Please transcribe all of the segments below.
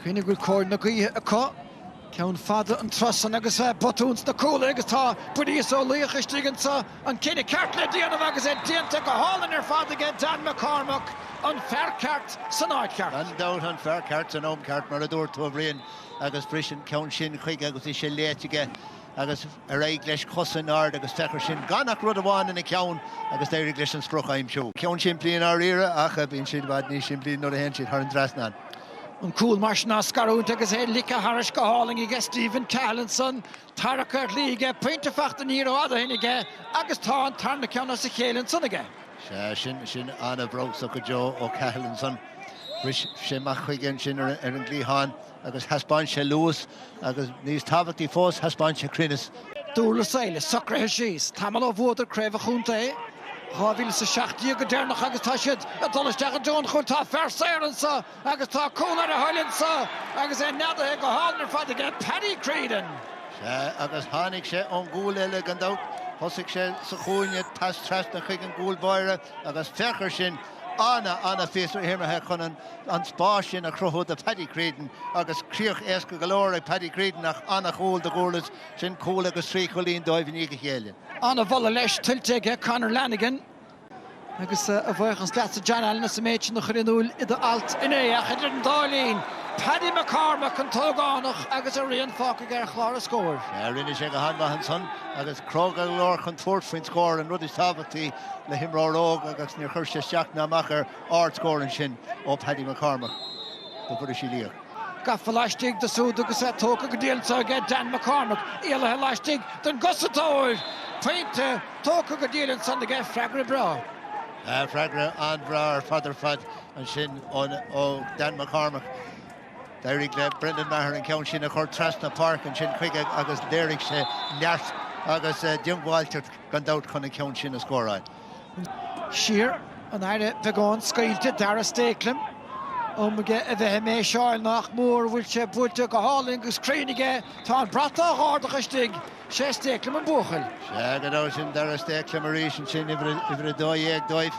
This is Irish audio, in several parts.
Cuimhnigh go bhfuil cóir na gaoithe acu, ceann fada an tráth san agus botún sna cúlaithe agus tá Buiríos Ó Luigheach istigh anseo, an cinneadh ceart le déanamh agus é déanta go hálainn ar fad aige, Dan McCormack, an fear ceart san áit cheart. Gan dabht, an fear ceart san am ceart, mar a dúirt tú, a Bhriain, agus briseann ceann sin chuige agus é sin léite aige. Agus ar aghaidh leis, cosa in airde agus féach air sin gan ach rud amháin ina cheann agus d'éirigh leis an sprioc a aimsiú. Ceann simplí i ndáiríre, ach bíonn siad i bhfad níos simplí nuair a théann siad thar an dtrasnán. An cúl mar sin á scarúint agus é ligthe tharais go hálainn aige Stephen Cahill ansan, tarrac ar chlí aige, pointe fachta ní rófhada ó shin aige agus tá an tarna ceann as a chéile ansan aige. Sea, sin ana-bhrabhsach go deo ó Cahill ansan. Bhris sé amach chuige ansin ar an gcliathán. agus thaispeáin sé luas, agus níos tábhachtaí fós, thaispeáin sé cruinneas. Durlas Éile socraithe síos tamall ó bhuadar Craobh an Chontae i 2017 go deireanach agus tá siad ag dul isteach i dtreo an chúil. Tá fear saor anseo agus tá cúl ar a thoil anseo agus é neadaithe go hálainn ar fad aige, Paddy Creedon. Sea, agus tháinig sé ón gcúl eile, gan dabht. Thosaigh sé sa chúinne, pas trasna chuig an gcúl báire agus féach air sin! Ana, ana phíosa imeartha chun an spás sin a chruthú do Paddy Creedon agus críoch éasca go leor ag Paddy Creedon ach ana chúl do Dhurlas, sin cúl agus trí chúilín dóibh i ndiaidh a chéile. Ana mholadh leis tuillte aige Conor Lanigan agus a bhuíochas leatsa John Allen as an méid sin a chur in iúil i do alt inné ach idir an dá linn, Paddy McCormack, an t-ógánach agus a rian fágtha aige ar chlár an scóir. Sea, rinne sé go han-mhaith ansan agus cróga go leor chun tabhairt faoin scór, an rud is tábhachtaí. le himreoir óg agus níor chuir sé isteach ná amach air, ardscór ansin ó Paddy McCormack do Bhuiríos Uí Luigheach. Gafa laistigh de súd agus é tógtha go diail anseo aige Dan McCormack, éalaithe laistigh don gcosantóir! Pointe tógtha go diail ansan aige, freagra breá. Freagra an-bhreá ar fad ar fad ansin ó Dan McCormack. D'éirigh le Brendan Maher an ceann sin a chur trasna páirce ansin chuige agus léirigh sé neart agus diongbháilteacht. gan dabht, chun an ceann sin a scóráil. Siar, an aire beagán scaoilte, Darragh Stakelum. Am aige a bheith ag méiseáil nach mór, bhfuil sé buailte go hálainn agus cruinn aige, tá an brat á dh'ardach istigh. 'Sé Stakelum an buachaill. Sea, gan dabht, sin Darragh Stakelum arís ansin, uimhir a dó dhéag dóibh,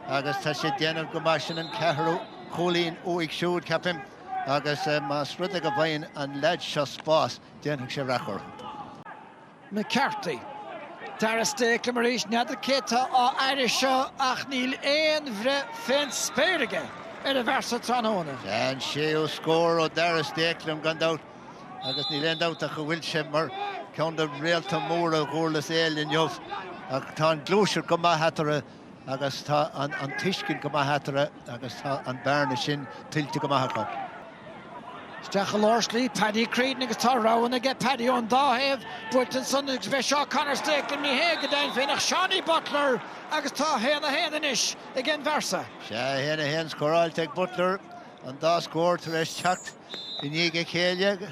agus tá sé ag déanamh go maith, sin an ceathrú cúilín uaidh siúd, ceapaim, agus más rud é go bhfaigheann an leaid seo spás, déanfaidh sé raic orthu. McCarthy. Darragh Stakelum arís, n'fheadar cé tá á fhaire seo ach níl aon bhreith fén spéir aige ar an bhfear so tráthnóna. An séú scór ó Darragh Stakelum, gan dabht, agus níl aon dabht ach go bhfuil sé mar cheann de réalta móra Dhurlas Éile inniu. Ach tá an gluaiseacht go maith eatarthu. agus tá an tuiscint go maith eatarthu agus tá an bearna sin tuillte go maith acu. Isteach i lár slí Paddy Creedon agus tá roghanna aige, Paddy ón dá thaobh, buailte ansan agus bheidh seo Conor Stakelum ní hé go deimhin féin ach Seanie Butler agus tá 1-1 anois ag an bhfear sa. Sea, 1-1 scóráilte ag Butler, an dá scór tar éis teacht i ndiaidh a chéile.